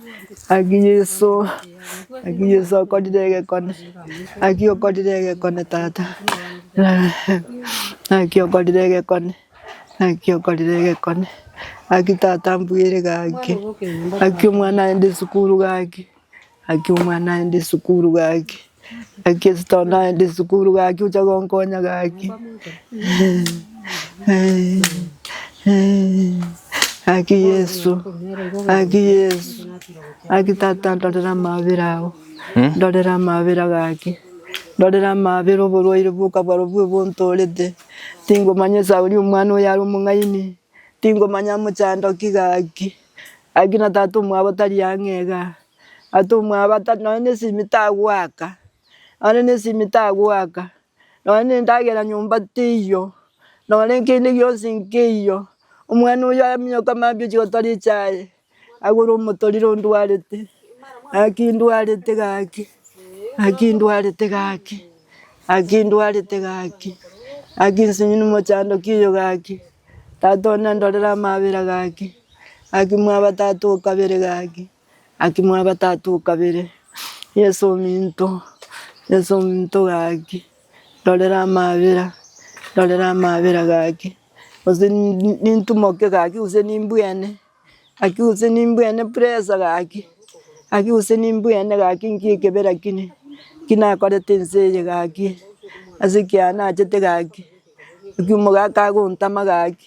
Naki Yeso, naki Yeso okorire egekone, naki okorire egekone tata, naki okorire egekone, naki okorire egekone, naki tata mbwire gaki, naki omwana aende sukuru gaki, naki omwana aende sukuru gaki. Ekesito naende sukuru gaki ocha gonkonya gaki. Aki Yesu, aki Yesu, aki tata ndorera amabera ao, Hmm? ndorera amabera gaki, ndorera amabera oborwaire bwokabwaro bwe bontorete. Tingomanya esauri omwana oyo are omong'aini, tingomanya amochandoki gaki. Aki na tata omwabo tari ang'e iga, Atomwa abatato nonya ne esimi tagoaka, nonya ne esimi tagoaka, nonya ne endagera nyomba teiyo, nonya kende gionsi nkeiyo. Omwana oyio amonyoka mambia ochia gotora echae, agure omotorire ondwarete, gaki ndwarete gaki, gaki ndwarete gaki, gaki ndwarete gaki, gaki nsinyinu mochandoki oyo gaki, tata one andorere amabera gaki, gaki mwabatato okabere gaki. Gaki mwa gatato o kabere, Yeso ominto, Yeso ominto gaki, Rorera amabera, rorera amabera gaki, gose nintumoke gaki gose nimbwene, gaki gose nimbwene pressure gaki, gaki gose nimbwene gaki nkie kebera kine, ki nakorete ense eye gaki, ase ekiagera nachete gaki, gaki omogaka agontama gaki.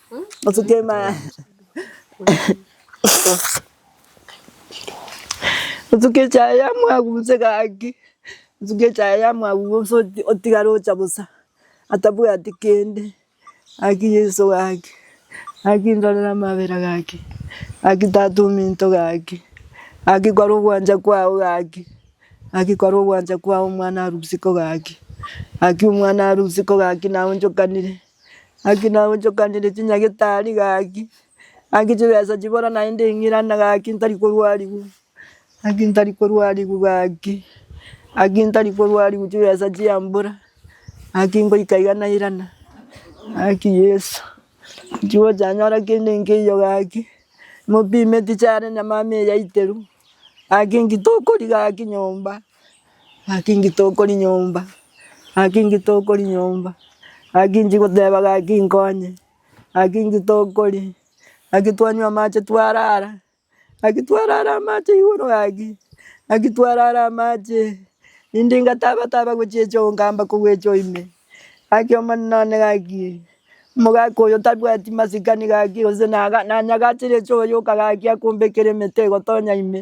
Nsuke echaye yamwabu gose gaki, nsuke echaye yamwabu gose otigare ocha bosa atabwati kende. Gaki Yeso gaki, gaki ndorere amabera gaki, gaki tata ominto gaki, gaki kware ogwancha kwao gaki, gaki kware ogwancha kwao omwana arusiko gaki, gaki omwana arusiko gaki naye onchokanire. Gaki nagochokanire chinyagitari gaki, gaki chibesa chibora naende ng'irana gaki ntari korwarigwa, gaki ntari korwarigwa gaki, gaki ntari korwarigwa chibesa chia mbura, gaki ngoika iga nairana, gaki Yeso nchigochanyora kende nkeiyo gaki, mopime tichiare nyamama eyaiterwa, gaki ngitokori gaki nyomba. Gaki ngite okori nyomba, gaki ngite okori nyomba, gaki nchi goteba gaki nkonye, gaki ngite okori, gaki twanywa amache twarara, gaki twarara amache igoro gaki, gaki twarara amache, rende ngataba taba gochia choo nkamba kogocha oime, gaki omanyete nonye gaki omogaka oyo tabwati masikani gaki gose nanyagachire choo yoka gaki akombekera emete egotonya ime.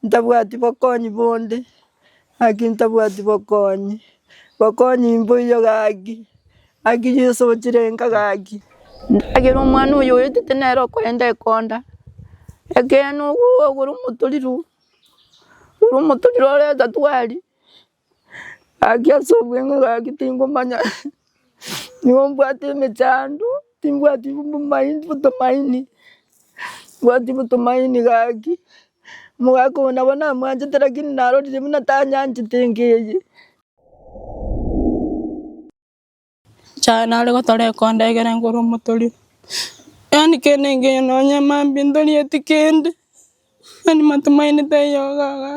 Ntabwati bokonyi bonde, gaki ntabwati bokonyi, bokonyi mboiyo gaki, gaki Yeso ochirenka gaki. Ndagera omwana oyo oetete nere okoenda ekonda, ekeene ogoru omotorero, omotorero ore etatwari. Gaki ase obweng'u gaki tingomanya nigo mbwate emechando timbwati obomaidi obotumaini mbwati obotumaini gaki omogaka oyo nabo namwanchete lakini narorire buna tanyanchete enka eye. Nyasae nare gotoreka onde ekero nkore omotori, yaani kende nkeyo nonya mambia ntorieti kende, yaani matumaini taiyo iga iga,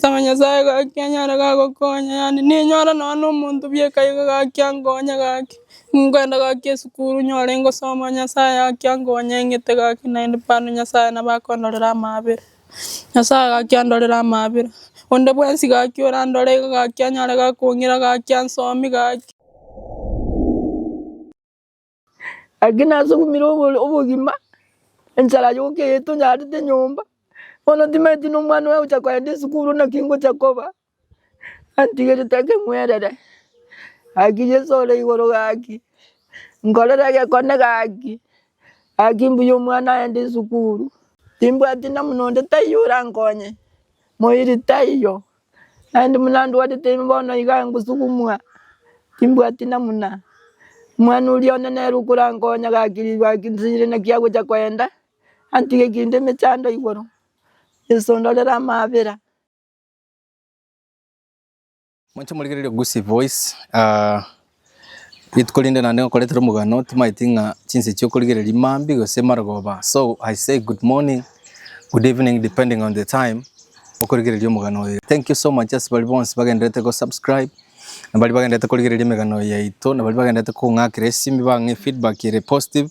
saba nyasae gaki anyare gagokonya yaani ninyore nonya na omonto bieka iga gaki ankonye gaki, nkwenda gaki esukuru nyore ngosoma nyasae gaki ankonye ng'ete gaki naende bado nyasae nabo akondorera amaabera. Nyasae gaki andorere amaabera, onde bwensi gaki orandore iga gaki anyare gakong'ira gaki ansoomi gaki. Gaki nasugumire obogima, enchara yoka eyio tonyarete nyomba, bono timanyeti nomwana oyo ogocha kogenda esukuru naki ngocha koba, Antigire take mwerere Haki Jesu ore igoro gaki nkorere egekone gaki Haki mbuya omwana aende esukuru timbwati namuna onde taiyo orankonye moiri taiyo naende buna ndwarete ime bono iga ngosukumwa timbwati namuna omwana oria one nere okorankonya gaki ribu Haki nsinyire naki agocha koenda antige kende emechando igoro Jesu ondorere amabera. Monche morigererie Gusii Voice, ah, gete korende naende nkoretera omogano timaeti ng'a chinsa echi okorigereria mambia gose marogoba. So I say good morning, good evening depending on the time okorigereria omogano oyo. Thank you so much ase baria bonsi bagendererete go subscribe, na baria bagendererete korigereria emegano yaito, na baria bagendererete kong'akera esimi bang'e feedback ere positive.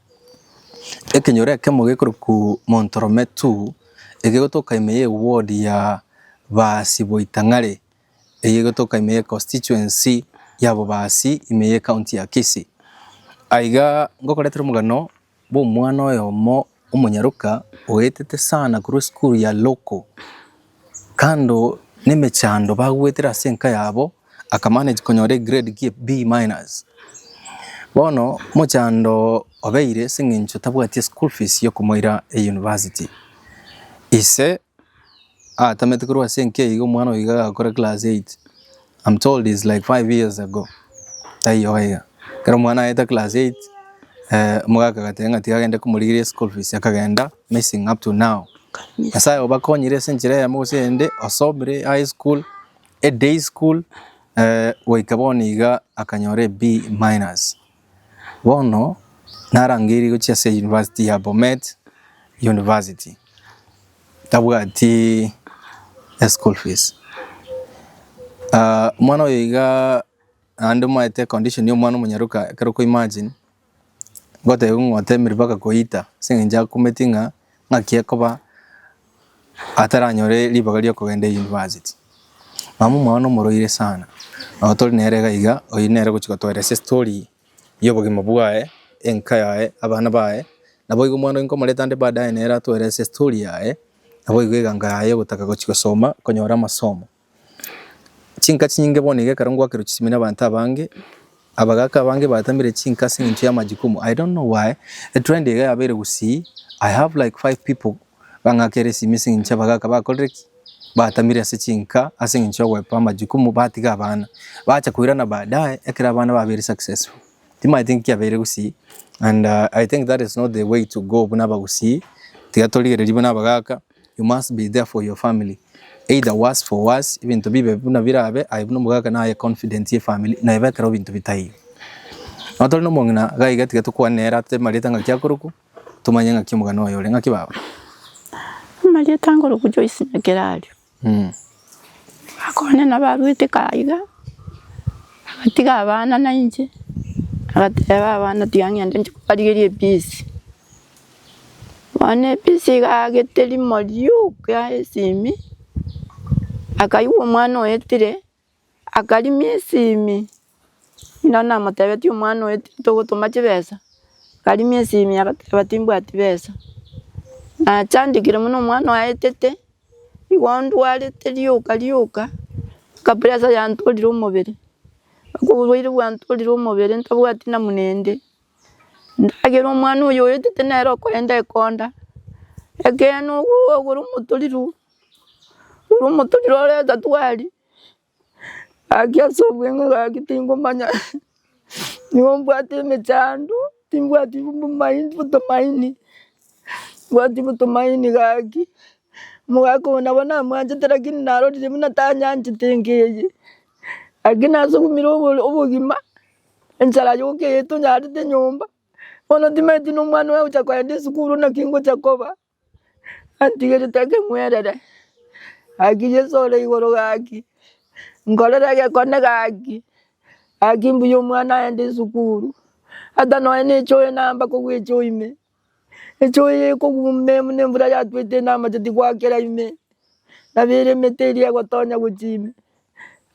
Ekenyoro ekemo gekorokwa Montorometu egegotoka ime ye ward ya Baasi Boitang'are eye egotoka ime ye constituency ya Bobaasi ime ye county ya Kisii. Aiga ngokoretera omogano bwa omwana oyomo omonyaroka oetete sana korwa esukuru ya local. Kando nemechando bagwetire ase enka yabo, aka manage konyora egrade gie B minus. Bono mochando obeire ase eng'encho tabwati eschool fees yokomoira eyunivasiti. Ise atamete korwa ase enka eyio omwana oyo iga agakora class eight, am told is like five years ago, taiyo aiga. Ekero omwana aete class eight, omogaka agateba ng'a tiga agende komorigereria eschool fees, akagenda. Amazing up to now. Nyasaye obakonyire ase enchera eyemo gose eyende, osomire high school, e day school, eh, goika bono iga akanyora e B minus. Bono narangeirie gochia ase University ya Bomet University. Tabwati e school fees. Ah, omwana oyo iga naende omaete condition ya omwana omonyaroka, ekero oko imagine, Ngotebi ng'a otemerwe mpaka koita, ase eng'encho akumeti ng'a ng'aki ekoba ataranyore ribaga riokogenda eyunibasiti. Mama omwao nomoroire sana, nabo tori nere iga iga, oyio nere ogochi gotoera ase estori ya obogima bwaye, enka yaye, abana baye, naboigo omwano nkomoreta ande baadaye nere atoere ase estori yaye, naboigo egango yaye ogotaka gochi gosoma, konyora amasomo. Chinka chinyinge bono iga ekero ngwakerwa chisemi na abanto abange, abagaaka abange batamire chinka ase eng'encho ya majukumu. I don't know why, etrend iga yabeire gusii, I have like five people bang'akere esimi ase eng'encho abagaaka bakorire ki? batamire ase chinka ase eng'encho ya ogoeba amajukumu batiga abana. Bacha koirana baadaye ekero abana babeire successful. Timanyeti inki kiabeire gusii and I think that is not the way to go buna abagusii, tiga torigereria buna abagaaka. You must be there for your family either worse for worse ebinto bibe buna birabe aye buna omogaka naye confident ye family naye bekero ebinto bitaiyo. Nonya tore nomong'ina iga iga tiga tokwane nere ate marieta ng'aki akorokwa tomanye ng'aki omogana oye ore ng'aki baba. Amarieta nkorokwa Joyce Nyakerario. Akogana nabo arwete kaye iga agatiga abana nainche agateba abana tiga ng'ende inche kobarigeria ebisi. Bono ebisi egagete rimo rioka esimi, akaigwa omwana oetire, akarimia esimi, buna namotebetie omwana oetire togotoma chibesa, akarimia esimi agateba timbwati besa. Nachandekire buna omwana oaetete, igo ndwarete rioka rioka, mpaka pressure yantorire omobere, mpaka oborwaire bwantorire omobere ntabwati namuna ende. Ndagera omwana oyo oyotete nere okorenta ekonda, ekeene ogooo ogoro omotorero, ogoro omotorero ore etatwari, gaki ase obweng'e gaki tingomanya nigo mbwate emechando, timbwati obomaindi obotomaini, mbwati obotomaini gaki, omogaka oyo nabo namwanchete lakini narorire buna tanyanchete enka eye, lakini ase ogomira obogima. Enchara yoka eye tonyarete nyomba, bono timanyeti buna omwana oye agocha kogenda esukuru naki ngocha koba, antigerete ake ng'werere. Gaki Yeso ore igoro gaki, nkorere egekone gaki, gaki mbuya omwana agende esukuru, ata nonya na echoyo namba kogwecha oime. Enchwa eye ekogumba ime, na embura yatwete ime, na amacheti goakera ime, na bera emete eria egotonya gochia ime.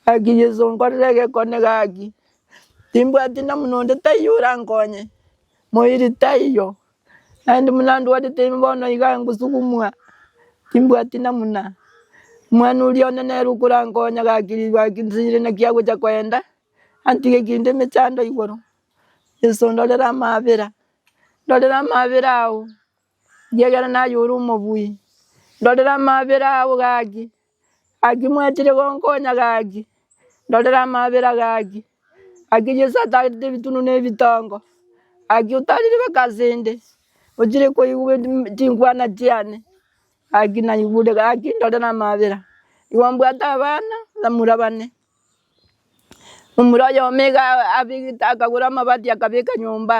Gaki Yeso, nkorera egekone gaki, timbwati namuna onde taiyo orankonye, moiri taiyo, naende buna ndwarete ime bono iga ngosugumwa, timbwati namuna. Omwana oria one nere okorankonya gaki ribaga ake nsinyire naki agocha koenda, antige kende emechando igoro. Yeso ndorere amabera. Ndorera amabera ao, gie ekero naye ore omobui. Ndorera amabera ao gaki, gaki mwachire gonkonya gaki. Ndorera amabera gaki, gaki Yeso atagete ebitunu na ebitongo, gaki otarire mpaka ase inde, ochire koigwa chinkwana chiane, gaki naigure gaki ndorera amabera. Igo mbwate abana, bamura bane. Omura oyomo iga abegete akagora amabati akabeka nyomba,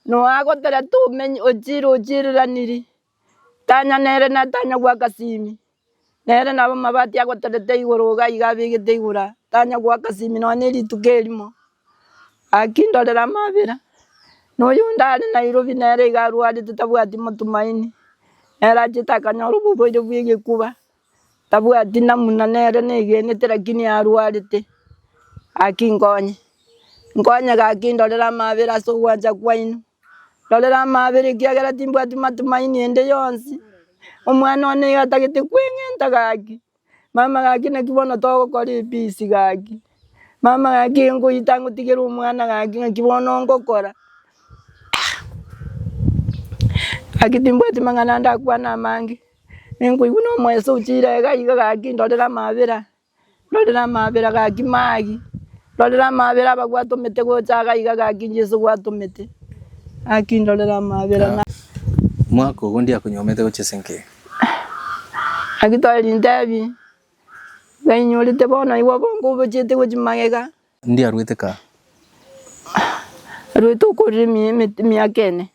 noe agotera tomenye ochire ochireranirie, tanya nere na tanya goaka simi, nere nabo amabati agoterete igoro iga iga abegete igoro tanya goaka simi nonya ne rituko erimo. Gaki ndorera amabera, na oyonde are Nairobi nere iga arwarete tabwati motumaini, nere achete akanyora oborwaire bwa egekuba. Tabwati namuna nere negenete lakini arwarete gaki nkonye, nkonye gaki ndorere amabera ase ogwancha kwaino, ndorere amabera ekiagera timbwati matumaini ende yonsi, omwana one iga atagete kweng'enta gaki, mama gaki naki bono togokora ebisi gaki, mama gaki iga nkoyeta ngotigere omwana gaki naki bono ngokora gaki timbwati mang'ana ndakwana amange. Ninkoigwa nomoeso ochire iga iga gaki ndorere amaabera, ndorere amaabera gaki maagi, ndorere amaabera abagwate omete gocha iga iga gaki Jesu obwate omete, gaki ndorere amaabera na. Omwaka ogo ndiakonywa omete gochia ase enkiya. Gaki tore rintebi, iga inyorete bono aye obonge obochiete gochia magega. Ndiaruete kaa. Aruete okorire emiaka ene.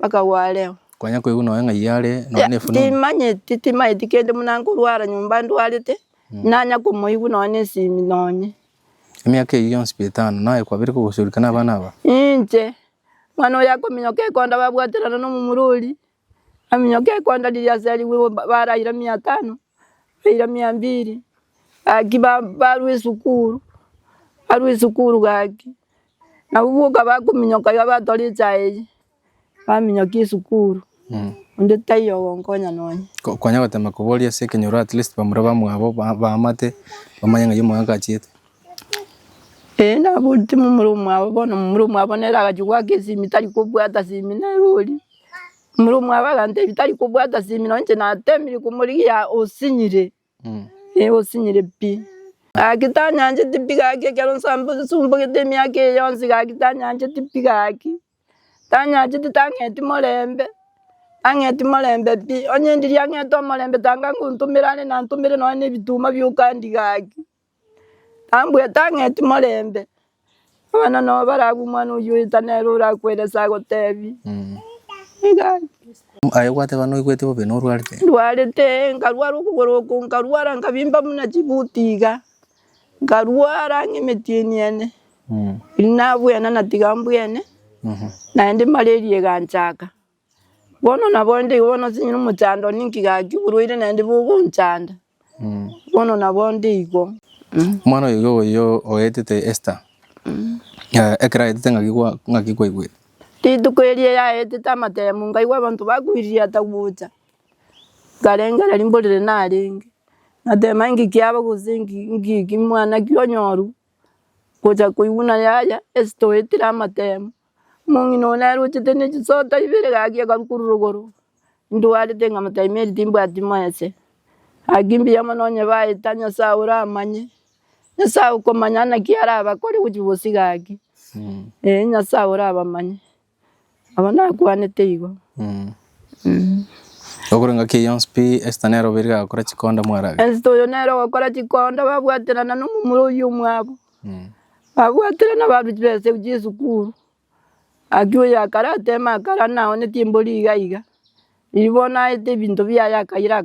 bakagwa areo. Konya koigwa nonya ng'a iyio are nonya ne efununu. Timanyeti, timanyeti kende buna nkorwara nyomba ndwarete, nanya komoigwa nonya ne esimi nonya. Emiaka eyio yonsi bia etano, naye kwabire kogosorika na abana aba? Inche, mwana oyo akominyoka ekonda babwaterana na omomurori, aminyoka ekonda riria asarigwe igo ba- baraira mia tano, baira mia mbiri, gaki ba- barwa esukuru, barwa esukuru gaki. Nabo boka bakominyoka iga batwara echae eyio, baminyoka esukuru, onde taiyo ogonkonya nonye. Ko- Kwanya gotema koboria ase ekenyoro at least bamura bamwabo ba- baamate, bamanye ng'a oyomo agachiete. Ee nabo timomura omwabo bono, momura omwabo nere agachia goaka esimi tari kobwata simi nere oria. Momura omwabo agantebi tari kobwata simi nonye inche natemire komorigia osinyire. Negosinyirie pi. Gaki tanyancheti pi gaki ekero nsumbugete emiaka eye yonsi gaki tanyancheti pi gaki. Tanyancheti tang'eti morembe, tang'eti morembe pi. Onye ndiri ang'ete omorembe tanga ngontomera are nantomere nonye na ebituma bia okandi gaki. Nambwete ang'eti morembe, abana nabo barabwo omwana oyio oeta nere orakwere ase agotebi, iga iga. Aye obwate bana oigweti bobe na orwarete? Ndwarete, nkarwara okogoro oko, nkarwara nkabimba buna chibuti iga, nkarwara ng'a emetieni ene, riria nabwena natiga mbwene, naende malaria eganchaka. Bono naboindo igo, bono nosenyire omochando one ninki gaki, oborwaire naende bogonchanda, bono naboindo igo. Omwana oyoge oyo oetete Esta, ekero aetete ng'aki kwa- ng'aki kwaigwete? Rituko erio yaetete amatemo, nkaigwa abanto bakwiririe ata gocha, nkarengereria mborere narenge, natema inki kiaba gose inki inki ki mwanake onyoru, gocha koigwa na yaya Esta oetire amatemo. Omong'ina one arochete ne chisota ibere gaki akarukuru rogoro, ndwarete ng'a motaimeri timbwati moese. Gaki mbuya mono onye baeta Nyasae ore amanye, Nyasae okomanya naki arabakore gochia bosio gaki. Ee Nyasae ore abamanye. Abwo nakwanete igo. Okore ngaki eye yonsi pi, Esther nere obeire gagokora chikonda mwarage. Esther oyo nere ogokora chikonda babwaterana nomomura oyio omwabo. Babwatire nabaruti b'ense gochia esukuru. Gaki oyo akare ateme akare ande naoneti embori iga iga. Riria bono aete ebinto biaye akaira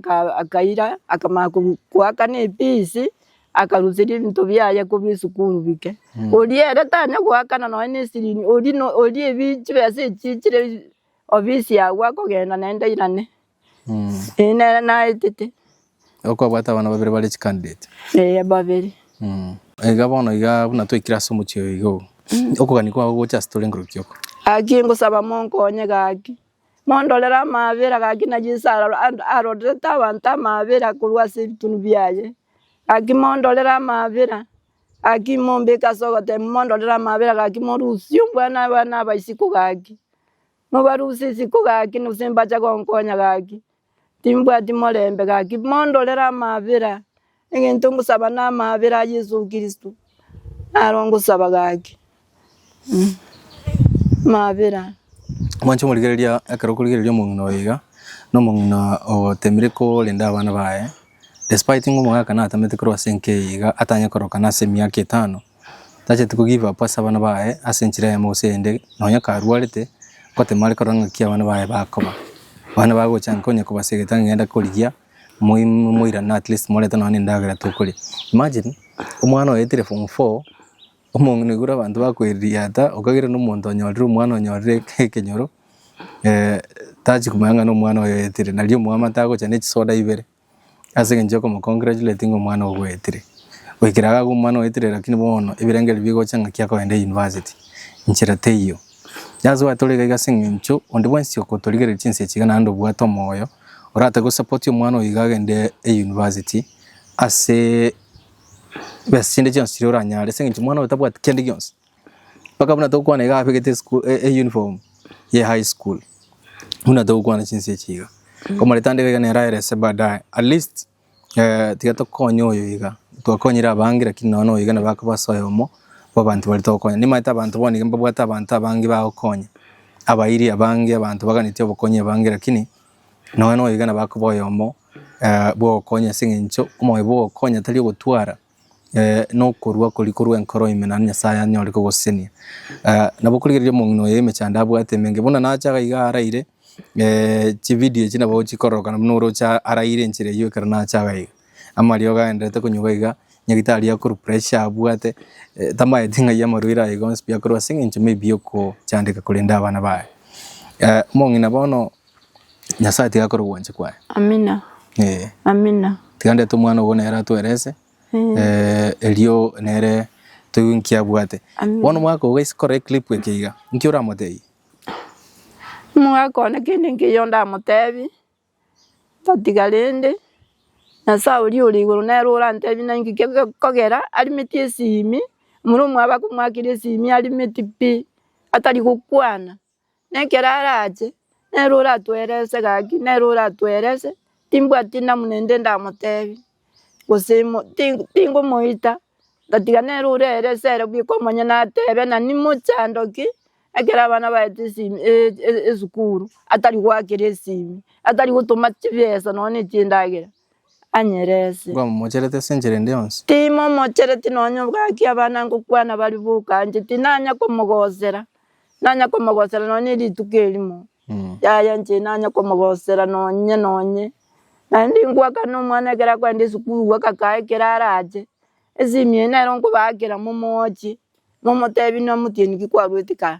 akaira akamanya koakana efees akaruseria ebinto biaye kobua esukuru bike. Oria ere tanya goakana nonye ne esirini oria no oria ebi chibesa echi chire office agwo akogenda naende airane. Ee, nere naetete. Okwabwate abana babere bare chicandidate. Ee, babere. Mm. Iga bono iga buna twekire ase omochie oyo iga ogo. Okogania kwao gocha ase tore ngorokio oko. Gaki ngosaba monkonye gaki. Mondorere amabera gaki na Yeso ara- a- arorerete abanto amabera korwa ase ebitunu biaye. Gaki mondorere amabera, gaki mombeke ase ogoteba, mondorere amabera gaki morusie ombwana abana aba isiko gaki. Mobarusie isiko gaki, gose mbacha gonkonya gaki, timbwati morembe gaki, mondorere amaabera, egento ngosaba namaabera a Yeso Kristo, naro ngosaba gaki. Amaabera. Mwanche omorigereria ekero okorigereria omong'ina oyo iga, na omong'ina ogoteemire korende abana baye. Despite ng'a omogaka natamete korwa ase enka eye iga atanye koroka nase emiaka etano, tacheti ko give up ase abana baye ase enchera eyemo gose eyende nonya karwarete ngotema are korora ng'aki abana baye bakoba. Abana bagochanka onye kobasegete ang'enda korigia moi moirane at least morete nonya endagera tokoria. Imagine omwana oetire form four Omong'ina abanto bakoirigiata, okagera nomonto onyorire omwana onyorire ekenyoro, tachi komanya ng'a nomwana oyo oetire. Nari omwamate agocha ne chisoda ibere ase eng'encho yokomo congratulate ng'a omwana oo bwetire. Goikera iga agwo omwana oetire lakini bono ebirengo ebi bigocha ng'aki akoenda university, nchera teiyo. Ase gwatore iga ase eng'encho onde bwensi okotorigereria chinsa echi iga naende obwate omoyo, oratoke gosapoti omwana oyo iga agende university ase Chibesa chinde chionsi chiria oranyare ase eng'encho omwana oye tabwati kende gionsi. Mpaka buna togokwana iga abegete esukuru eyunifomu ye high school, buna togokwana chinsa echi iga. Komoreta ande iga nere aerese baadaye at least tiga tokonye oyo iga, twakonyire abange lakini nonya noyo iga nabo akoba ase oyomo bwa abanto baria togokonya. Nimanyete abanto bono iga mbabwate abanto abange bagokonya, abairi abange, abanto baganeti obokonyi abange lakini. Nonya noigana bakoba oyomo bwogokonya ase eng'encho omoyo bwogokonya tari ogotwara nokorua koria korwa enkoro ime naende Nyasaye anyore kogosesenia. Nabo korigereria omong'ina oyo emechando abwate emenge buna nache iga iga araire chividio echi nabo chikororokana buna oroche araire enchera eyio ekero nache iga iga. Amariogo agendererete konywa iga iga, nyagitari akorwa pressure abwate tamaeti ng'ai amarwaire aye iga onsi pi akorwa ase eng'encho maybe yokochandeka korenda abana baye. Omong'ina bono Nyasae tiga akore obwanchi kwaye. Amina. Eh. Amina. Tiga ndete omwana obo nere atwerese. Eh. Eh, erio nere toiwe nki abwate. Amina. Bono omwaka ogo gaise kore clip eke iga. Nki oramotebie? Omwaka one kende nkeiyo ndamotebie, tatiga rende, Nyasae oria ore igoro nere orantebie naki gekogera arimeti esimi, omura omwabo akomoakera esimi arimeti pi, atari gokwana. Nekero arache, nere oratoerese gaki, nere oratoerese, timbwati namuna ende ndamotebi, gose mo ti tingomoita, otatiga nere orerese ere bwe komanya natebe nani mochando ki, ekero abana baete esimi e- e- esukuru, atari goakera esimi, atari gotoma chibesa nonye ne chindagera. anyerese. Nkomomochereti ase enchera ende yonsi. Timomochereti nonya obwaki abana ngokwana baria bokanche, tinanya komogosera. Nanya komogosera nonya erituko erimo, yaya inche nanya komogosera nonye nonye. Naende ingoakana omwana ekero akoenda esukuru gokakaa ekero arache, esimi eye nere okobaakera momochie, momotebi namotienyi ki kwaruete kaa.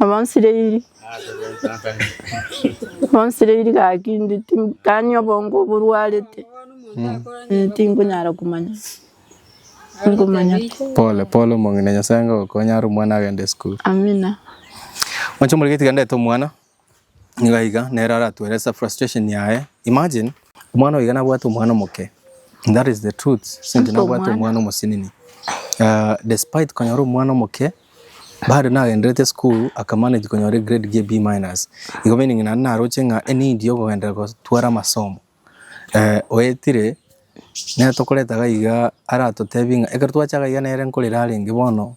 Abonsiriri Abonsiriri gaki inde tim- tani obongo oborwarete eh, tinkonyara komanya, tinkomanya. Pole pole omong'ina Nyasaye ngagokonyare omwana agende esukuru. Amina. Moche omorike tiga ndete omwana. Nigo iga nere aratuelesa frustration yaye. Imagine omwana oyo iga nabwate omwana omoke and that is the truth since nabwate omwana omosinini uh, despite konyora omwana omoke bado nagenderete school akamanage konyora egrade gie B minus igo meaning naende naroche ng'a enidi yokogendera gotwara amasomo Oetire, nere tokoreta iga iga aratotebie ng'a ekero twacha iga iga nere nkorera arenge bono,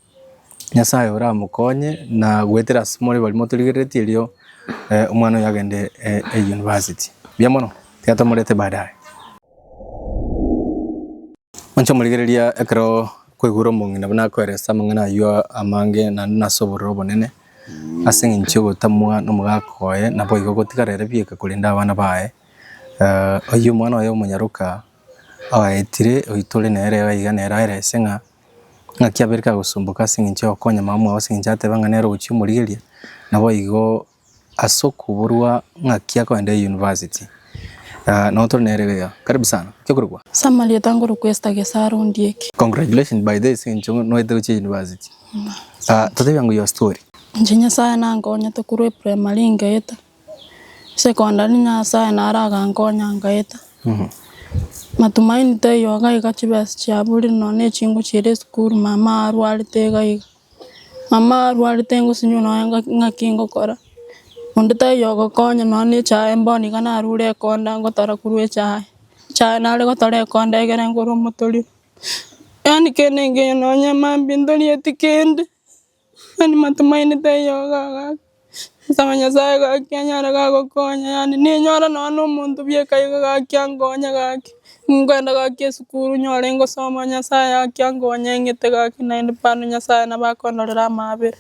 Nyasaye oramokonye na goetera ase more baria motorigereretie erio omwana oyo agende eyunibasiti. Buya mono, tiga tomorete baadaye. Inche omorigereria ekero kwaigure omong'ina buna akoeresa ase amang'ana ayio amange naende nase obororo obonene, ase eng'encho y'ogotamwa nomogaka oye, naboigo gotigara ere bieka korende abana baye. Oyio omwana oye omonyaroka oetire, oitore nere iga iga nere aye rese ng'a ng'aki abere kagosumboka ase eng'encho ya gokonya mama mwao ase eng'encho ateba ng'a nere ogochia omorigereria, naboigo ase okoborwa ng'aki akoenda eyunivasiti notore nere iga iga. Karibu sana, ki okorokwa? Summary Otangorokwa Esther Gesaro Ondieki. Congratulations by the way ase eng'encho noetire gochia eyunivasiti. Totebia ng'o your story. Inche Nyasae nankonyete korwa eprimary ngaeta Secondary nyasaye naro agankonya nkaeta, matumaini taiyo iga iga chibesa chiaburire nonya ne chingo chiria esukuru mama arwarete iga iga, mama arwarete ngosinywa nonya ng'aki ngokora, onde taiyo ogokonya nonya ne echae bono iga narure ekonda ngotara korwa echae, echae nare gotora ekonda egere ngore omotori, yaani kende engiya nonya mambia ntorieti kende. Mani matomaenete eyogo agaka, nsaba Nyasae gaki anyare gagokonya, yaani ninyore nonya na omonto bieka iga gaki ankonye gaki, nkwenda gaki esukuru nyore ngosoma Nyasae gaki ankonye ng'ete gaki naende bado Nyasae nabo akondorera amaabera,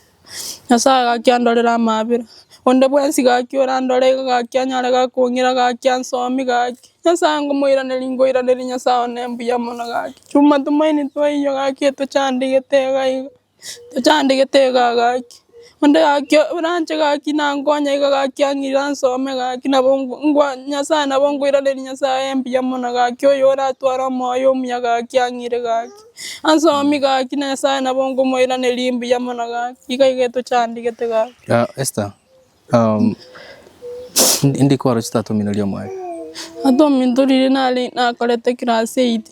Nyasae gaki andorere amaabera, onde bwensi gaki orandore iga gaki anyare gakong'ira gaki ansomi gaki, Nyasae ngomoiraneria nkoiraneria Nyasae one mbuya mono gaki, chumatomaeti toiyo gaki etochandigete iga iga. Tochandegete iga gaki, onde gaki oranche gaki nankonye iga gaki ang'ira nsome gaki nabo ngo ngwa Nyasaye nabo nkoiraneria Nyasaye mbuya mono gaki oyo oratware omoyo omuya gaki ang'ire gaki, ansomi gaki na Nyasaye nabo nkomoiraneria mbuya mono gaki, iga iga etochandegete gaki. Esta, Ndikoro chitatomineria omwene. Atomintorire nare nakorete class eight.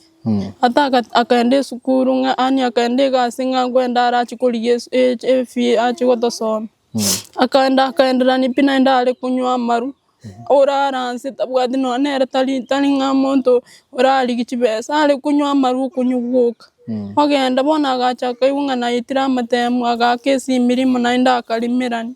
Ata akaenda esukuru ng'a yaani akaenda egasi ng'a kwenda arache korigia efee arache gotosomia. Akaenda akaenderania pi naende are konywa amaru, orara anse tabwati nonya nere tari tari ng'a monto orarigia chibesa, are konywa amaru okonywa gwoka. Ogenda bono agacha akaigwa ng'a naetire amatemu agaaka ase emirimo naende akarimerania.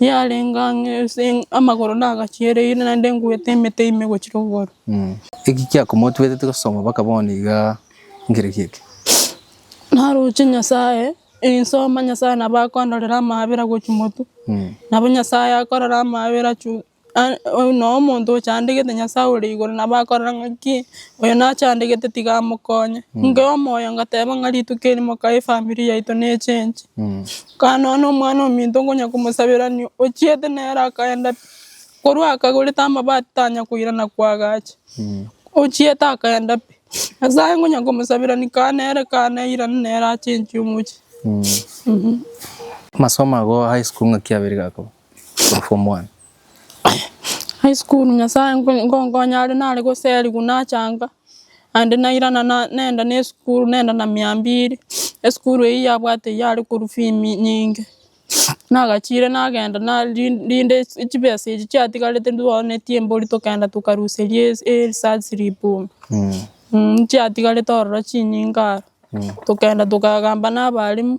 yarenge ang'e ase amagoro nagachiereire, naende ngwete emete ime gochia rogoro. Eki kiakomotigeteti gosoma mpaka bono iga ngerekio eke? Naroche Nyasaye, nsoma Nyasaye nabo akondorera amaabera gochia motwe. Nabo Nyasaye akorora amaabera chwe nonya omonto ochandegete Nyasae ore igoro nabo akorora ng'aki oyo nachandegete tiga amokonye. Inke omoyo ngateba ng'a rituko eri moka efamiri yaito nechengi. Kara nonya na omwana ominto nkonya komosaberania ochiete nere akaenda pi, korwa akagorete amabati tanya koirana kwagacha, ochiete akaenda pi. Nyasae nkonya komosaberani kara nere kara nairane nere achengi omochie. Amasomo ago a high school ng'aki abere gakoba? Form one. High school nyasaye ngonkonya are nare goseriwa nachanga naende nairana nenda na esukuru nenda na mia mbili, esukuru eyio yabwate yare korwa fee nyinge, nagachire nagenda rinde chibesa echi chiatigarete ntwaonetie mbori tokagenda tokaruseria eresearch slip ime, chiatigarete ororo chinyinge aro, tokagenda tokagamba na abalimu.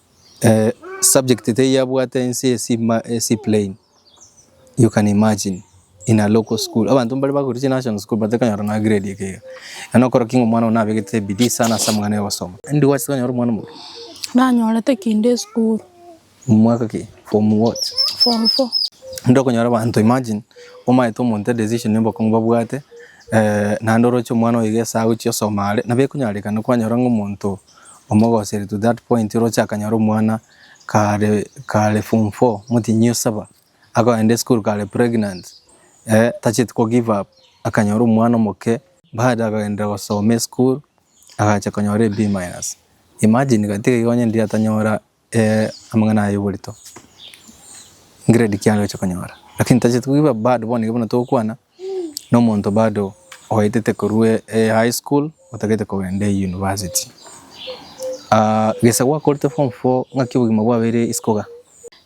Subject teyabwate ense ase plain you can imagine in a local school abanto mbare bakorire chinational school but tekanyora nonya grade eke iga eke nokora ki omwana one nabegete ebidii sana ase amang'ana ayogosoma ande gwachete konyora omwana omoke? Nanyorete kinde esukuru. Mwaka ki? Form what? Form four. Ande okonyora abanto imagine omaete omonto edecision yobokong'u babwate naende oroche omwana oyo iga esaa agochia kosoma are nabo ekonyarekana kwanyora ng'a omonto omogoseri to that point oroche akanyora omwana kare kare form four motinyie osaba akoenda esukuru kare pregnant tacheti ko give up akanyora omwana omoke bado akagenderera gosoma esukuru agacha konyora e B minus imagine gati iga onye ndiri atanyora. amang'ana aya oborito grade ki aroche konyora lakini tacheti koiba bado bono ekero togokwana na omonto bado oetete korwa high school otagete kogenda university. Gese gwakorete form four ng'aki obogima bwabeire isiko iga?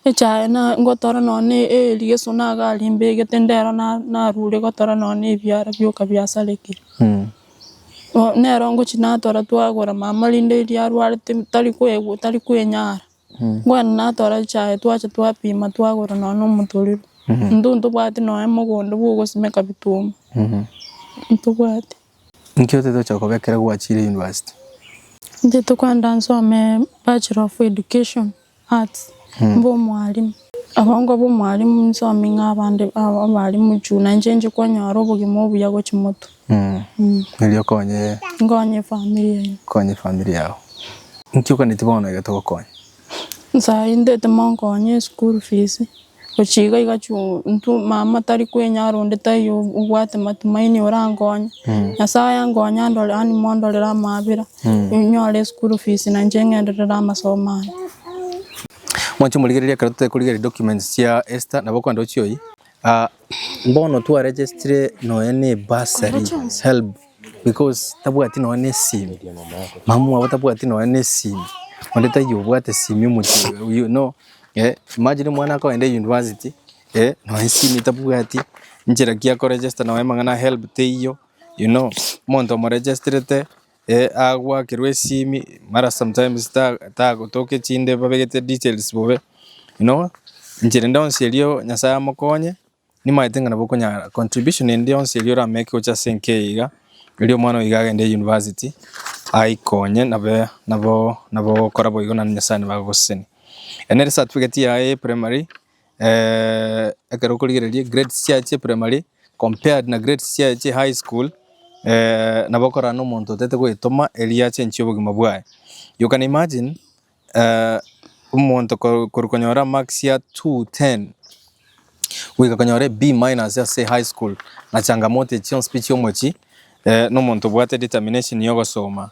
Echaye ngotora nonya erigeso nagarimbegete ndero narure gotora nonya ebiara bioka biasarekire. Bo nero ngochia natwara twagora mama rinde riria arwarete tari kwegwa tari kwenyara, kwenda natwara echaye twacha twapima twagora nonya na omotorero, intwe ntobwati nonya mogondo bwa ogosimeka bituuma, ntobwati. Nki otatocha kobekera gwachire university? Intwe tokwenda nsome bachelor of education. Arts, mbe omwalimu. Abongwa b'omwalimu inse oming'a abande aba abalimu juu na inche inche kwanyora obogima obuya gochia moto. Erio okonye. Nkonye efamiri yaino. Okonye efamiri yao. Inki oganeti bono egete gokonya? Nsaintete monkonye eschool fees. Gochia iga iga chuu intwe mama tari kwenyara onde taiyo obwate matumaini orankonye, Nyasaye ankonye andore yaani mondorere amabera, inyore eschool fees na inche ng'enderere amasomo ane. Mwanche morigereria ekero totekorigereria documents chia Esther nabo okogenda ochie oyie? Aa Bono twaregestire nonya ne bursary, helb, because tabwati nonya ne esimi, mama mwabo tabwati nonya ne esimi, onde taiyo obwate esimi omochie oyo, you know, eh, imagine omwana akogenda university, eh, nonya esimi tabwati, inchera ki akoregesta nonya amang'ana ya helb teiyo, you know, omonto omoregestirete. Ee agoakerwe esimi mara sometimes tagotoka echinde babegete details bobe no enchera ende yonsi erio nyasaye amokonye nimaete ng'a nabo okonyara contribution ende yonsi erio orameke gocha ase enka eye iga erio omwana oiga agende university aikonye nabe nabo nabo ogokora boigo naende nyasaye nabo agogoseseni. Ere nere ecertificate yaye ya primary. ekero okorigereria grades chiaye chia primary compared na grades chiaye chia high school nabo okorana na omonto otaete goetoma erio achenchie obogima bwaye. You can imagine omonto korwa konyora marks ya two ten goika konyora B minus ase high school na changamoto echi chionsi pi chiomochie na omonto obwate determination ya ogosoma.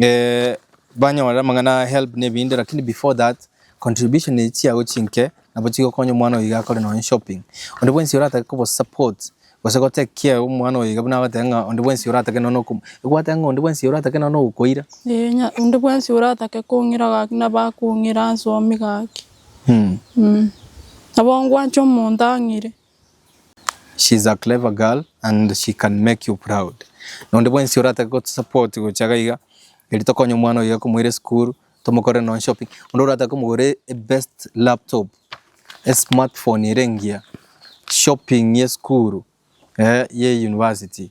eh, banyore amang'ana a help na ebinde lakini before that contribution echi chiago chinke nabo chigokonya omwana oyo iga akore nonye shopping onde bwensi oratake kobo support gose gotekia omwana oyo iga buna agotebiwa ng'a onde bwensi oratake nonye okomo egwateba ng'a onde bwensi oratake nonye ogokoira Ee, nya- onde bwensi oratake kong'ira gaki nabo akong'ira ase omi gaki. Nabo ngwanche omonto ang'ire. She is a clever girl and she can make you proud. Nonde bwensi oratake go support gocha iga iga eri tokonye omwana oye komoira esukuru tomokorere nonye shopping. Onde oratake komogorera a best laptop, a smartphone ere engiya, shopping ye esukuru, eh ye university.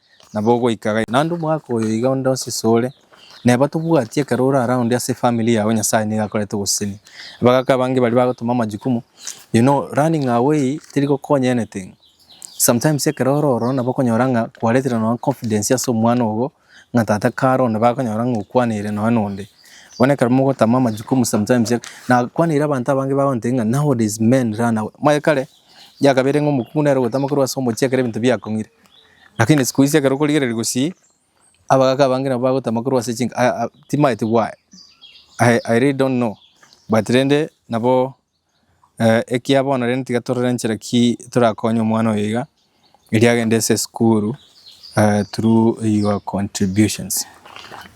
Na bogoika gai, naende omwaka oyo iga onde onsi sore neba tobwati ekero ore ara onde ase efamiri yao Nyasaye nigo akorete ogosesenia. Abagaka abange baria bagotoma amajukumu, you know running away teri gokonya anything. Sometimes ekero ore ororo nabo okonyora ng'a kwaretire nonya confidence ase omwana ogo ng'a tata kare onde bakonyora ng'a okwaneire nonya nonde. Bono ekero mogotama amajukumu sometimes, nakwaneire abanto abange bagontebia ng'a nowadays men run away. Omanye kare. Eria kabere ng'a omokungu nere ogotama korwa ase omochie ekero ebinto biakong'ire. Lakini siku ici ekero okorigereria gosii, abagaka abange nabo bagotama korwa ase chinka ah ah timaeti why, I I really don't know, but rende nabo ekiya bono rende tiga torore enchera ki torakonye omwana oyo iga. erio agende ase esukuru through your contributions.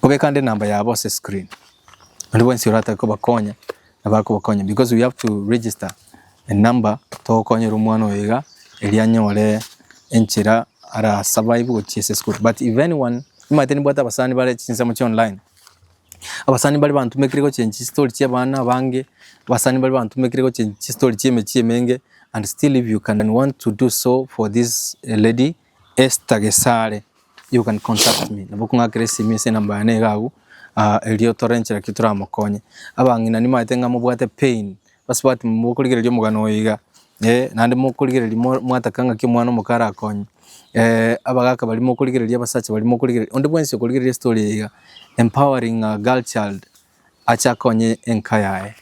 Obekande enamba yabo ase screen, baria bonsi oratake kobakonya bakobakonya because we have to register a number togokonyera omwana oyo iga erio anyore enchera ara survive gochia ase esukuru but if anyone nimbwate abasani bare chinsemo chia online. Abasani mbare bantumekire gochengi chistori chia abana abange, abasani mbare bantumekire gochengi chistori chia emechie emenge and still if you can want to do so for this lady Esther Gesare you can contact me nabo okong'akera esimi ase enamba yane iga agwo erio tore enchera ki toramokonye. Abang'ina nimaete ng'a mobwate pain Basubati mokorigereria omogano oye iga, eh, naende mokorigereria mo- mwataka ng'aki omwana omoka arakonye, abagaka baria mokorigereria, abasacha baria mokorigereria, onde bwensi okorigereria estory eye iga, empowering a girl child ache akonye enka yaye,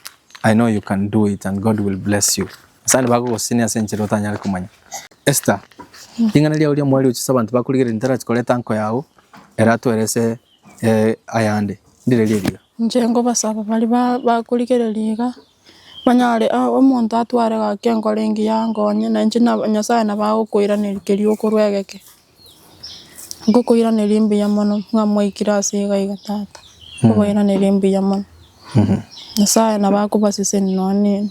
I know you can do it and God will bless you. Nyasae nigo agogosinia ase enchera otanyare komanya. Esther, ring'ana riao ria mwari ochiche abanto bakorigereria ntarachi koreta nko yao, ere atoerese ayande, ndirerie riga. Inche nkobasaba baria ba- bakorigereria iga, banyare o- omonto atware gaki enkoro engiya ankonye, na inche nabo nyasaye nabo agokoiraneria keria okorwa egeke, ngokoiraneria mbuya mono ng'a mwaikire ase iga iga tata, nkobairaneria mbuya mono, nyasaye nabo akobaseseni nonye ne.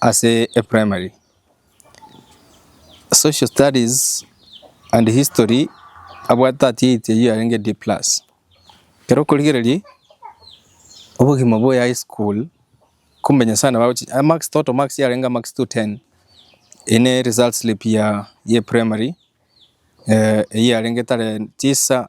Ase e primary, social studies and history abwate atiaiti ayio yarenge D+ ekero okorigereria obogima bwa high school kumbe Nyasae nabo agochi amax total marks yarenge amax to ten eye ne result slip ya primary eyio yarenge tare tisa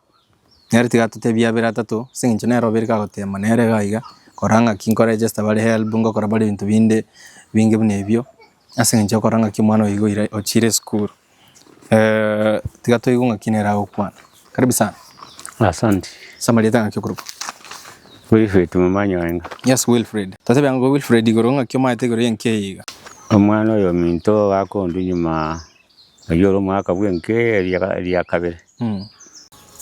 Nere tiga atotebie abere atato, ase eng'encho nere obeire kagoteema nere iga iga, kora ng'aki nkoregesta bare helb, ngokora bare ebinto binde binge buna ebio, ase eng'encho okora ng'aki omwana oyo iga oira ochiire esukuru tiga toigwe ng'aki nere agokwana. Karibu sana. Asante. Ase amarieta ng'aki okorokwa? Wilfred Momanyi Oenga. Yes Wilfred. Totebe ang'o Wilfred igoro ng'aki omaete igoro y'enki eye iga? Omwana oyominto gakondu nyuma Oyio ore omwaka bw'enka eria kabere,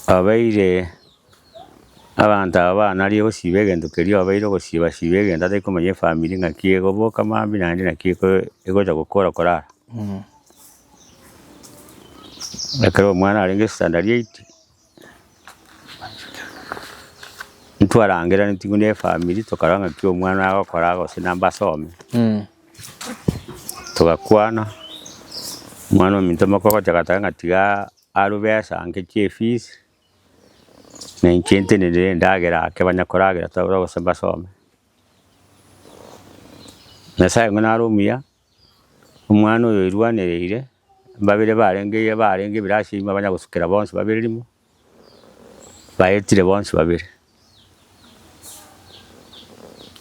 abeire abanto aba baanare ogosiba egento keria obeire ogosiba siba egento atari komanya efamiri ng'aki egoboka mambia eke naende naki egocha gokora korara. Ekero omwana arenge standard eight. Ntwarangereretie buna efamiri tokarora ng'a ki omwana agokora gose namba asome, togakwana, omwana ominto moka ogochaka gochaka ng'a tiga arube ase anche chia efees, na inche ntenenere endagera ake banya koragera tore gose mbasome. Nyasae ng'a nare omuya. Omwana oyo oirwanereire, babere barenge iga barenge ebirasi ebi mbabanya gosukera bonsi babere rimo, baetire bonsi babere.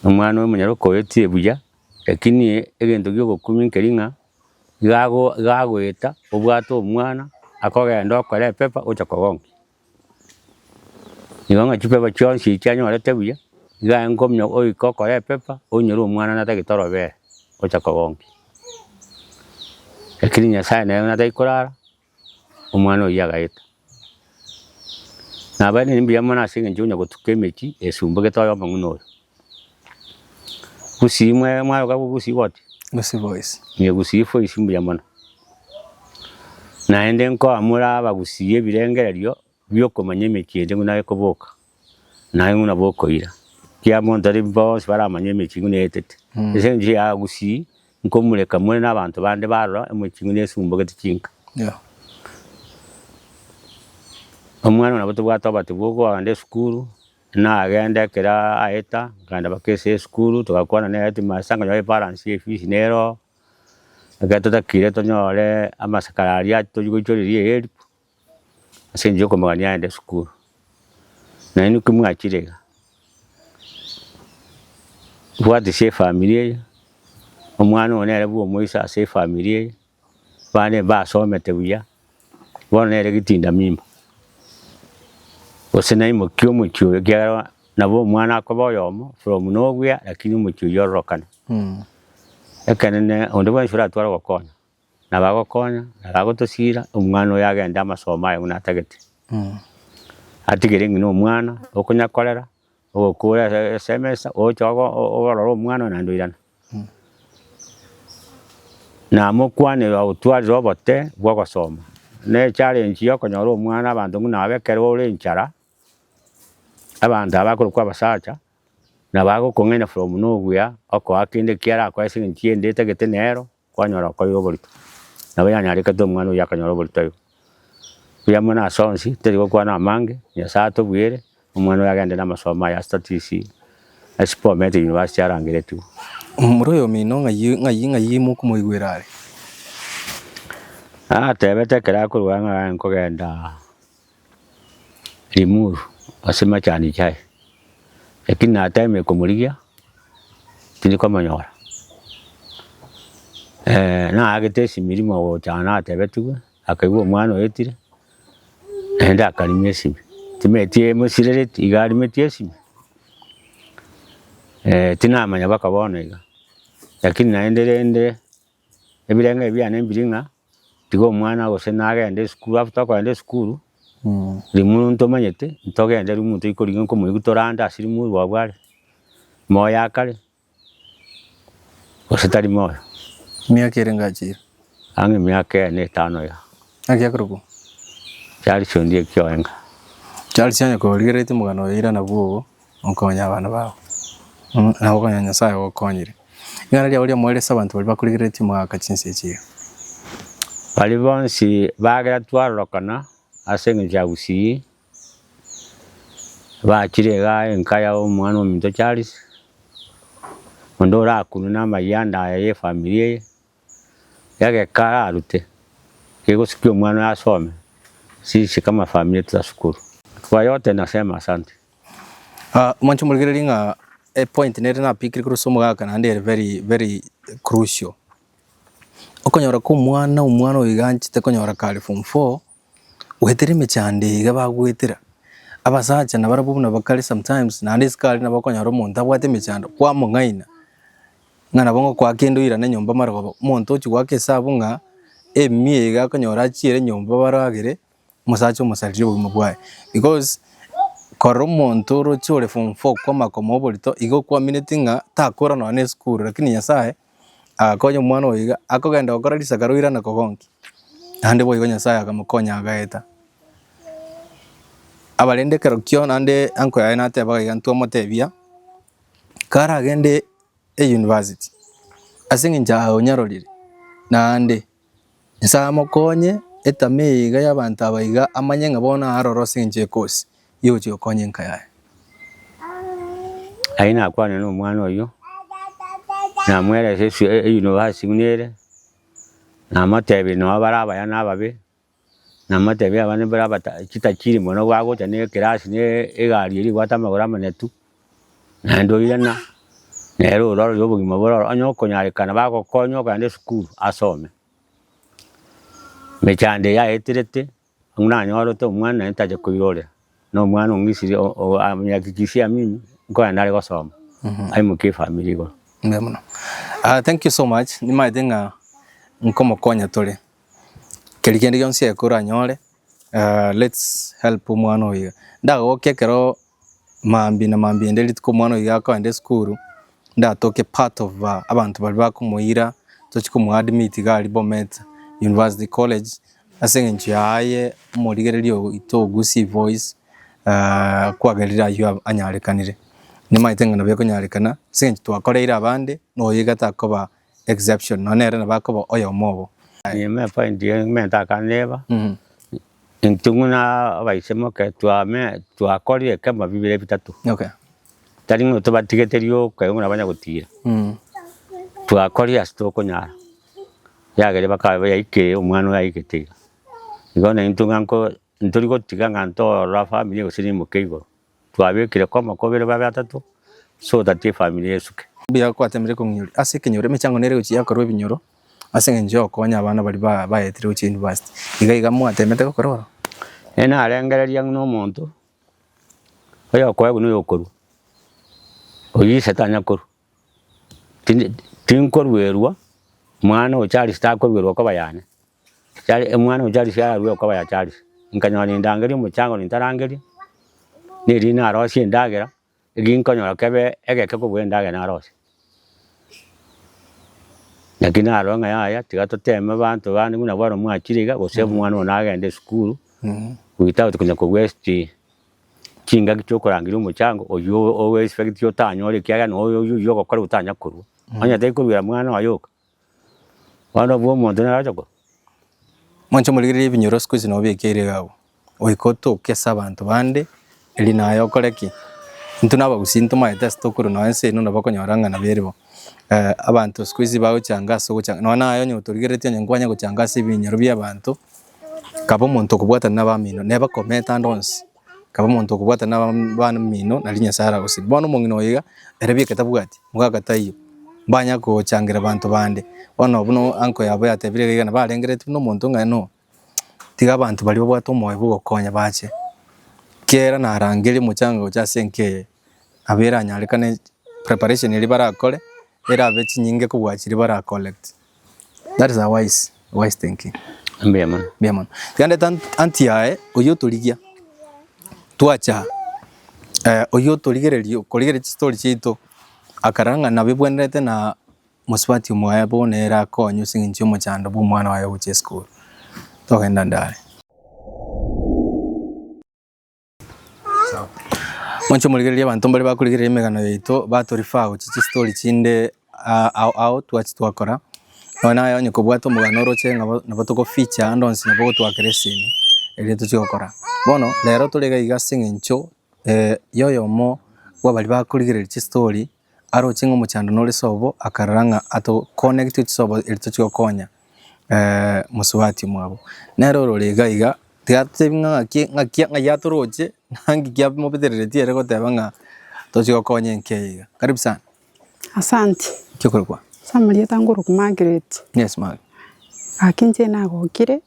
Omwana oyo omonyaroka oetie buya, lakini egento kia ogokumia nkeri ng'a, iga ago- iga agoeta, obwate omwana, akogenda okore epepa, ocha kogonkia. Igo ng'a chifepo chionsi echi anyorete buya, igo aye nkomya oike okore epepa, onyore omwana natagete torobere, ocha kogonkia. Lakini Nyasaye nere natari korara, omwana oyio agaeta. Nabo ere nembuya mono aseng'encho onya gotuka emechie esumbugete oye omong'ina oyo. Gusii mwe mwayoka gusii goti? Gusii boys. Inye gusii boys mbuya mono. Naende nkoamura abagusii ebirengererio biokomanya emechie eye buna ekoboka, naye buna bokoira. Kira monto are bonsi baramanye emechie buna etete. Ase eng'encho ya gusii nkomureka more na abanto bande barora emechie buna esumbogete chinka. Omwana nabo tobwate obatibu okoa kogenda esukuru, Nagenda ekero aeta, nkagenda mpaka ase esukuru, togakwana na headmaster nkonye gose balance ya efees nere oo. Ekero totakire tonyore amasikara aria toria goichoreria help, ase eng'encho yokomogania aende sukuru. Nainwe ki mwachire iga? Bwatisia efamiri eye, omwana oyo nere bwomoisa ase efamiri eye. Abande mbasomete buya, bono nere egetinda mimba, gose naimokia omochie oyo ekiagera bono nabo omwana akoba oyomo from nobuya lakini omochie oywo ororokane. Ekenene onde bwensi oratware ogokonya, nabo agokonya, nabo agotosira, omwana oyo agende amasomo aye buna atagete. Atigere ng'a nomwana okonyakorera, Ogokuura ase- ase emesa, ogocha ogo- o- oorore omwana oyo naende oirane. Namokwanere agotwarire obote bw'ogosoma. Na echallenge ya okonyora omwana abanto buna aba ekero ore enchara, abanto aba abakorokwa abasacha, nabo agokong'aina from na obuya, okoa kende ekiarakoe ase eng'encho y'ende etagete nero, Kwanyora okoiga oborito, nabo yanyarekete omwana oyio akanyora oborito aye. Mbuya mono ase onsi, teri gokwana amange, Nyasaye atobwere, omwana oyo agende na amasomo aye ase TTC, ase Bomet University arangeretigwe. Omomura oyomino ng'ai ng'ai ng'ai mokomoigwera are? Natebete ekero akorwa ng'a aye nkogenda. rimuru ase machani chiaye, lakini natemire komorigia tindi komonyora. naagete esim'erimo gocha aye natebetigwe, akaigwa omwana oetire, naende akarimia esimi, timanyeti emosirereti iga arimetie esimi, tinamanya mpaka bono iga, lakini naende rende. Ebirengererio biane mbiri ng'a tiga omwana gose nagende esukuru after okogenda esukuru, rimuru ntomanyete ntogende rimuru toikorigia nkomoigwa torande ase rimuru rwabwo are, moyo akare gose tari moyo. Emiaka ere ngachire. Ang'e emiaka ene etano iga. Naki akorokwo? Charles Ondieki Oenga. Charles onye korigereretie omogano oyoira nabwo obo. Mokonye abana babo, na gokonya Nyasae ogokonyire. Ring'ana riabo riamoerio ase abanto baria bakorigereretie mogaaka chinse echi iga. Baria bonsi bagera twarorokana ase engencho ya Gusii, bachire iga enka ya omwana ominto Charles, onde orakunwe na amayie ande aya ye efamiri eye. egeka ararute kegosikia omwana oye asome sisi kama family yetu ya sukuru. Kwa yote nasema asante. Ah, mwanche morigererie ng'a epoint nere napikire korwa ase omogaka naende ere very very crucial. Okonyora komwana omwana oyo iga anchete konyora kare form four. Gwetera emechando iga bagwetera, abasacha nabarabwo buna bakare sometimes, naende isiko aria nabo okonyora omonto abwate emechando, kwamong'aina, ng'a nabo ngokwa kende oirane nyomba amarogoba, omonto ochia goaka esabu ng'a emia iga akonyora achiere nyomba baragere, omosacha omosarire obogima bwaye. Because korora omonto oroche ore form four kwama koma oborito, igo okwamineti ng'a takora nonya na esukuru, rakini Nyasaye Agakonya omwana oyo iga, akogenda gokora risaka roirana kogonki, naende boigo Nyasaye akamokonya agaeta. Aba rende ekero kio naende uncle yaye natebaga iga ntwamotebia, kare agende e university, aseng'encho aonyororire naende. Nyasae amokonye, etama eye iga y'abanto aba iga, amanye ng'a bono aaroro ase engencho y'ekosi, egochia gokonya enka yaye. Aye nakwane nomwana oyio, namoerese eswe eyunivasi buna ere, namotebie nonya bare abaya na ababe, Namatebie abana mbare abata chitachiri mono bagocha ne ekerasi ne egari eria ebwate amagoro amanyatu, naende oirana nere orore obogima bore oro, onye okonyarekana bagokonye okogenda esukuru asome. Emechando eye yaeterete buna anyorete omwana naende tacha koirorera, na omwana ong'isiri o- o amenyakikisia mimi nkogenda are gosoma, aimokie efamiri igoro. Mbuya mono. Ah thank you so much, nimaete ng'a nkomokonya tore. Keria kende gionsi eke oranyore aah let's help omwana oyo iga. Ndagoke ekero maambia na maambia ende rituko omwana oyo iga akoenda esukuru, ndatoke part of abanto baria bakomoira tochie komo admit iga aria Bomet University College, ase eng'encho yaye omorigereria oito ogusie voice aah kwagerire aywo anyarekanire. Nimaete ng'a nabo ekonyarekana ase eng'encho twakoreire abande na oyo iga takoba. exception nonya nere nabo akoba oyomo obo. Enyima ya point eye ng'umenta akandeeba, intwe buna abaisemoke twame twakorire ekemo bibere bitato, Okay. tari ng'a tobatigete rioka igo buna banya gotiira, twakorire ase tokonyara, riagere bakaba bayaikire omwana oyo aigete iga. Igo na intwe ng'a nko ntori gotiga ng'a ntorora family gose nimoke igoro. Twabekire koma kobere babe atato so that efamiri esuke. Mbuya gwatemire kong'ioria ase ekenyoro emechango nere gochia yakorwa ebinyoro ase engencho ya okonya abana baria ba baetire gochia university iga iga mwatemete gokora oro? Nere narengereria ng'ina omonto oyokoegwa noyokorua oyio ise tanya korua. Tindi tinkoruerwa mwana o Charles takoruerwa koba yane. Chari mwana o Charles ararue koba ya Charles. Nkanyora nindangeria omochango nintarangeria, nerinde narosie endagera, eki nkonyora kebe egeke kobua endagera narosie. Naki narora ng'a yaya tiga toteme abanto bande buna bwaro mwachire iga, gose mwana one agende esukuru, without konya kobua esti. chingaki chiokorangeria omochango oyio owe expecti otanyore ekiagera noyo oyio oyio ogokora otanya korua. Onye tari koruera mwana oye oka. Bono obwo omonto naro agocha korua. Mwanche morigereria ebinyoro siku hizi nobekeire iga abwo. Goika otoke ase abanto bande, eri naye okore ki? Intwe na abagusii ntomaete ase tokorwa nonya ense eno nabo okonyora ng'a nabo eribo. Abanto siku hizi bagochanga ase ogochanga. Nonya naye onye otorigeretie onye nkwanye gochanga ase ebinyoro bia abanto, Kaba omonto okobwatana nabamino, neba komenta ande onsi, kaba omonto okobwatana nabamino, nari Nyasae aragosibie. Bono omong'ina oyo iga, erio ebieke tabwati, mogaka taiyo, mbanya kochangira banto bande. Bono buna uncle yabo yatebire iga nabo arengeretie buna omonto ng'a no, tiga abanto baria babwate omoyo bwa ogokonya bache, kera narangeria omochango gocha ase enka eye. Abwo eranyarekane preparation eria barakore erabe chinyinge kobua chiria bara collect. That is a wise wise thinking. Mbuya mono. Mbuya mono. Tiga ndete anti yaye oyio otorigia twacha eh, oyio otorigereria okorigereria chistory chiaito akarora ng'a nabo ebwenerete na mosubati omoya bono ere akonye ase eng'encho y'omochando bwa omwana oye ogochia esukuru. Togenda ndare. Moche morigererie abanto mbare bakorigereria emegano yaito batorifa gochi chistori chinde ah, ao ao twachi twakora Nonye naye onye kobwate omogano oroche nabo nabo togofeature ande onsi nabo ogotwakera esini eria tochi gokora bono rero tore iga iga aseng'encho eh, yoyomo bwabari bakorigereria chistori. Aroche ng'a omochando nore sobo, akarora ng'a atokonegetie chisobo eri tochia gokonya mosubati mwabo. Nero ororo iga iga, tiga totebi ng'a ng'aki ng'aki ng'ai atoroche, naki kiamobetereretie ere goteba ng'a tochia gokonya enka eye iga. Karibu sana. Asante. Ki okorokwa? Ase amarieta nkorokwa Margaret. Yes Mark. Gaki inche nagokire,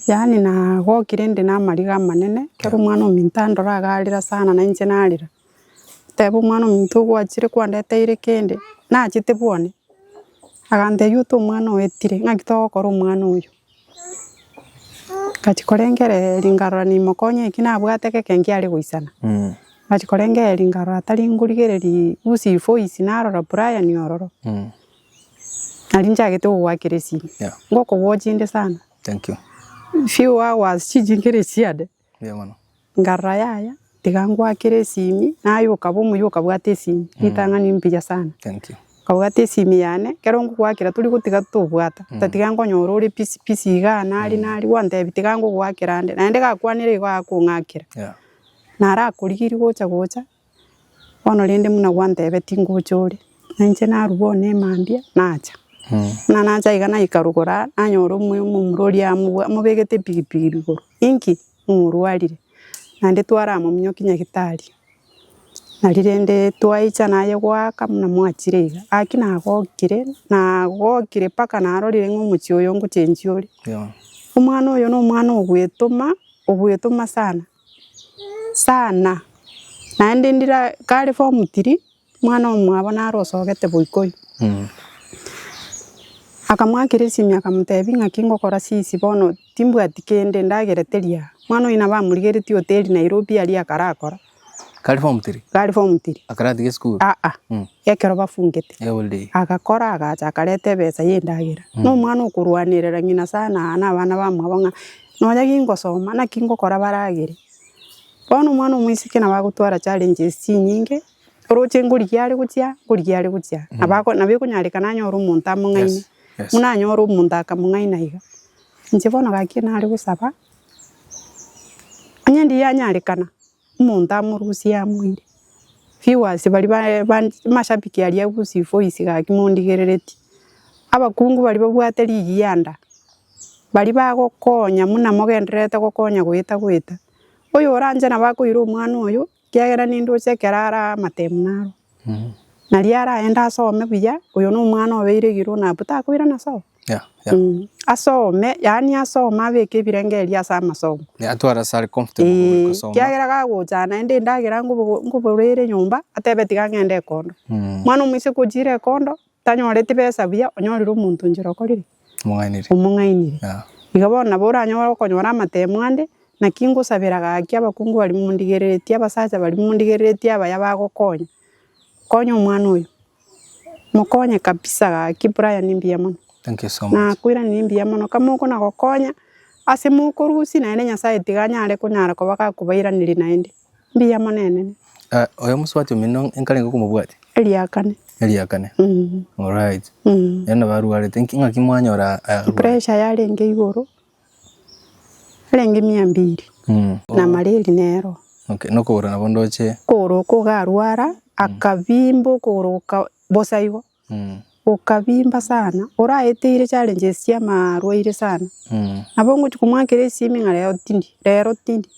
yaani nagokire inde namariga amanene, ekero omwana ominto andora agarera sana nainche narera. Teba Omwana-o-muntu ogwachire kwandeteire kende, nachete bwane? Agantebia ote omwana oye tire, ng'aki togokora omwana oyo? Ngachia korengereria nkarora nimokonya eki nabwate geke nkiare goisana. Ngachia korengereria nkarora tari nkorigereria usi ivoice narora Brian ororo, nari nchagete kogoakera esimi. Ngokowoch inde sana. Few hours chinchikere chiane. Ngarora yaya tiga ngwakere esimi naye okaba omuya okabwate esimi ritang'ani mbuya sana okabwate esimi yane ekero ngogwakera tori gotiga tobwata otatiga nkonyora ore busy busy iga nari nari gwantebi tiga ngogwakera nde naende gakwanire igo agakong'akera narakorigeria gocha gocha Bono rende buna gwantebeti tingocha ore, na inche narua one emambia nacha. Buna nacha iga naika rogoro aa, nanyora omoyo omomura oria amobua- amobegete epigipigi rigoro. Inki? Omorwarire. Naende twaramominyokia nyagetari. Nari rende twaicha naye goaka buna mwachire iga. Gaki nagokire, nagokire mpaka narorire ng'a omochie oyo ngochenchia ore. Omwana oyo na omwana obwetoma, obwetoma sana. Sana, naende ndira kare form three, omwana omwabo naro osogete goika oyio, akamoakera esimi akamotebia ng'aki ngokora sisi bono timbwati kende ndagerete ria. Omwana oyio nabo amorigeretie hoteli Nairobi aria akarakora, Kare form three, kare form three, akaratiga esukuru? aa, ekero bafungete, agakora agacha akareta ebesa ya endagera. Nomwana okorwanerera ng'ina sana aa na abana bamwabo ng'a. nonya kingosoma naki ngokora baragere, bono omwana omoiseke nabo agotwara challenges chinyinge, oroche ngorigia are gochia, ngorigia are gochia, nabo ako nabo ekonyareka nanyore omonto among'aini, buna anyore omonto akamong'aina iga. Inche bono gaki nare gosaba, onye ndianyarekana. Omonto amorusie amoire. Viewers baria ba- ba- amashabiki aria agusie voice gaki mondigereretie. Abakungu baria babwate ligi ya enda, baria bagokonya muna mogendererete gokonya goeta goeta. Oyo oranche nabo akoira omwana oyo, kiagera nindoche ekero ara amatemu naro. Nario araende asome buya, oyo na omwana obeire igoro nabu takoirana sobo. Yeah, yeah. Mm, asome yaani asome abeke ebirengererio ase amasomo Yeah, atware ase are comfortable Eh, gokosoma. kiagera gagocha naende endagera ngobo- ngoborere nyomba atebe tiga ng'ende ekondo Mm, mwana omoise gochire ekondo tanyoreti besa buya onyorire omonto njera okorire omong'ainiri. omong'ainire Yeah. iga bono nabo oranyore okonyora amatemo ande naki ngosabera gaki abakungu baria mondigereretie abasacha baria mondigereretie abaya bagokonya Konya omwana oyo mokonye kabisa gaki Brian mbuya mono Thank you so much. nakoiraneria mbuya mono kamo okona gokonya ase mokorusia naende nyasaye tiga anyare konyara koba gakobairaneria naende mbuya mono enene Ah, oyo mosubati omino nkare ngokomobwati eriakane eriakane mm. orit mm. yaani nabarwarete Nki- ng'aki mwanyora ah, pressure yarenge igoro. Arenge mia mbiri na mareri nero. Okay, nokogora nabo ndoche. Okogoro oko ogarwara, akabimba okogoro goka bosa igo, gokabimba sana, oraeteire challenge esia ama arwaire sana. Nabo ngochia komoakera esimi ng'a rero tindi, rero tindi.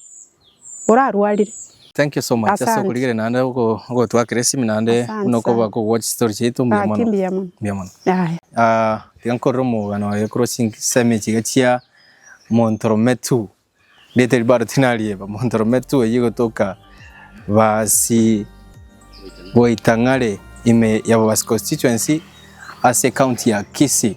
orarwarire. Thank you so much ase Asante. okorigereria naende ogo- ogotwakera esimi naende Asante buna okoba sana. kogwatch chitori chiaito mbuya Gaki mono mbuya mono. mbuya mono Yaya. Ah, tiga nkorere omogano oye korwa chinsemo echi iga chia Montrome tu rieta erio bado tinarieba Montrome tu eyio egotoka Baasi Goitang'are ime ya Babasi constituency ase ecounty ya Kisii.